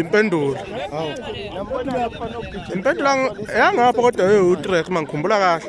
impendulo hawu impendulo ang- yangapha kodwa ewu-track uma ngikhumbula kahle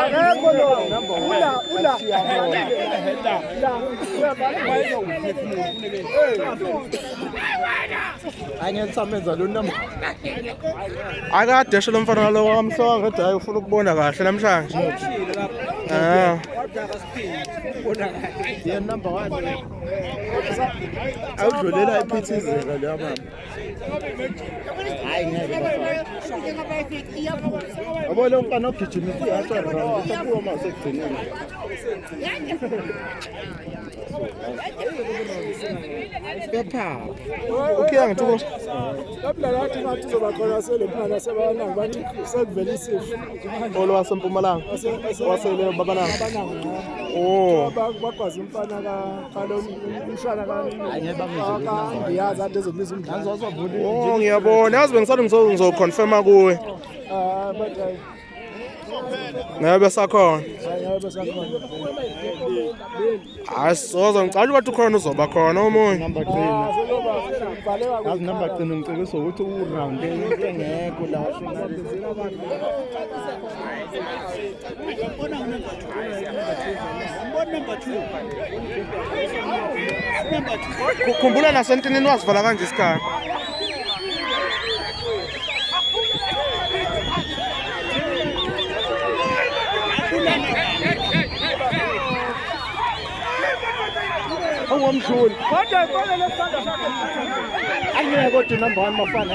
akekho lo ula ula angensamenza lo namba akadeshe lo mfana lo wamsoka ngathi hayi ufuna ukubona kahle namhlanje ah awudlulela ephithizela leya mama Abo lo mfana ogijimisa ihasha round usakuwa uma usekugcineni. Kepha ukhiya ngithi ko Lapha lathi ngathi uzoba khona selemphana sebabanangi bathi sekuvela isifo. Olo wasempumalanga. Wasele babanangi. Oh. Bakwazi umfana ka Oh, ngiyabona yazi bengisale ngizoconfirma kuwe ah, ngeke besakhona hayi soze ngicala ukuthi ukhona uzoba khona omunye yazi number gcina ngicebisa ukuthi uround into engekho la khumbula nasentinini wazivala kanje isikhathi ongomdluli kodwa ibona lesandla sakhe angeke kodwa number 1 mafana